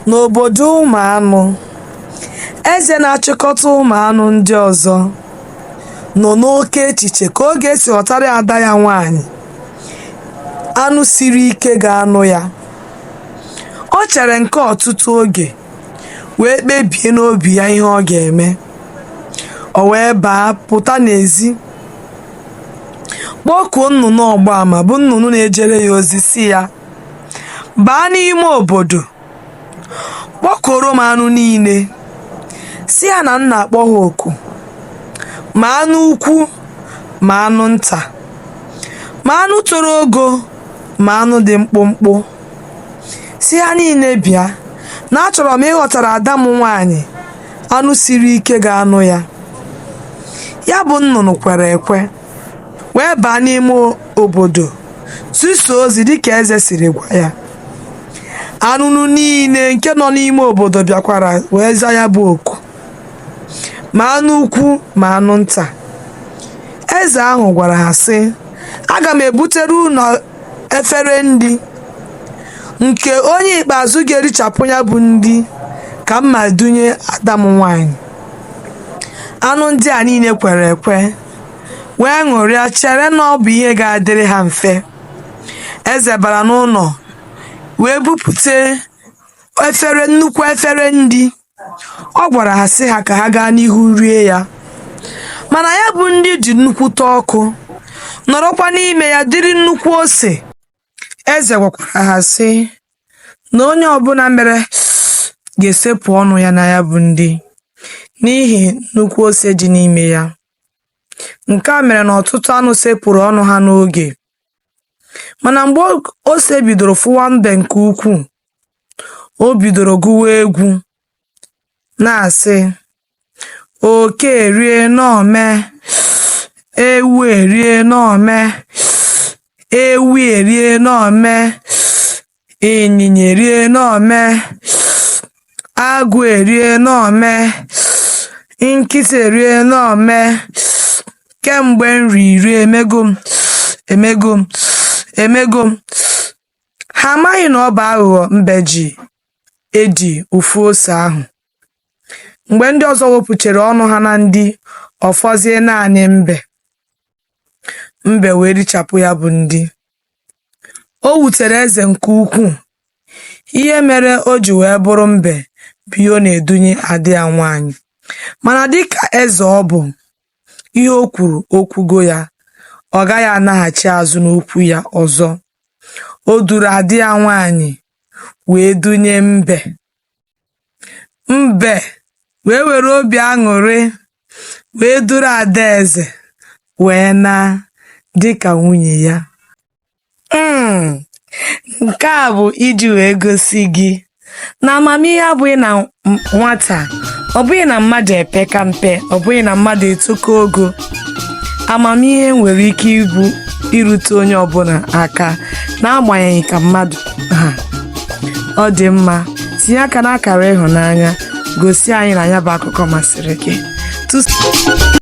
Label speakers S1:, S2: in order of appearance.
S1: N'obodo ụmụ anụ, eze na-achịkọta ụmụ anụ ndị ọzọ nọ n'oke echiche ka ọ ga-esi họtara ada ya nwaanyị anụ siri ike ga-anụ ya. O chere nke a ọtụtụ oge wee kpebie n'obi ya ihe ọ ga-eme. O wee baa pụta n'ezi kpọkuo nnụnụ ọgba ama bụ nnụnụ na-ejere ya ozi sị ya baa n'ime obodo kpọkọrọ m anụ niile sị ha na m na-akpọ ha oku ma anụ ukwu ma anụ nta ma anụ toro ogo ma anụ dị mkpụmkpụ sị ha niile bịa na achọrọ m ịhọtara ada m nwaanyị anụ siri ike ga-anụ ya ya bụ nnụnụ kwere ekwe wee baa n'ime obodo zisa ozi dịka eze siri gwa ya anụnụ niile nke nọ n'ime obodo bịakwara wee za ya bụ oku ma anụ ukwu ma anụ nta eze ahụ gwara ha sị aga m ebutere unu efere nri nke onye ikpeazụ ga-erichapụ ya bụ nri ka m ma dunye ada m nwanyị anụ ndị a niile kwere ekwe wee ṅụrịa chere na ọ bụ ihe ga-adịrị ha mfe eze bara n'ụlọ wee bupute efere nnukwu efere nri ọ gwara ha sị ha ka ha gaa n'ihu rie ya mana ya bụ nri dị nnukwute ọkụ nọrọkwa n'ime ya dịrị nnukwu ose Eze gwakwara ha, sị, Na onye ọ bụla mere ga-esepụ ọnụ ya na ya bụ nri n'ihi nnukwu ose dị n'ime ya. Nke a mere na ọtụtụ anụ sepụrụ ọnụ ha n'oge. Mana mgbe ose bidoro fụwa mbe nke ukwuu, o bidoro gụwa egwu, na-asị, oke erie n'ome ewu erie n'ome ewi erie n'ome ịnyịnya erie n'ome agụ erie n'ome nkịta erie n'ome kemgbe m riri emego m emego m emego m ha amaghị na ọ bụ aghụghọ mbe ji edi ụfụ ose ahụ mgbe ndị ọzọ wepụchara ọnụ ha na nri ọ fọzie naanị mbe mbe wee richapụ ya bụ nri o wutere eze nke ukwuu ihe mere o ji wee bụrụ mbe bụ ihe ọ na-edunye ada ya nwaanyị mana dịka eze ọ bụ ihe o kwuru o kwugo ya ọ gaghị anaghachi azụ n'okwu ya ọzọ o duru ada ya nwaanyị wee dunye mbe Mbe wee were obi aṅụrị wee duru adaeze wee na dịka nwunye ya. Mm, Nke a bụ iji wee gosi gị na amamihe abụghị na m- nwata, ọ bụghị na mmadụ epeka mpe, ọ bụghị na mmadụ etoko ogo. Amamihe nwere ike ibu irute onye ọbụla aka n'agbanyeghị ka mmadụ ọ dị mma tinye aka n'akara ịhụnanya gosi anyị na ya bụ akụkọ masịrị gị Tụs-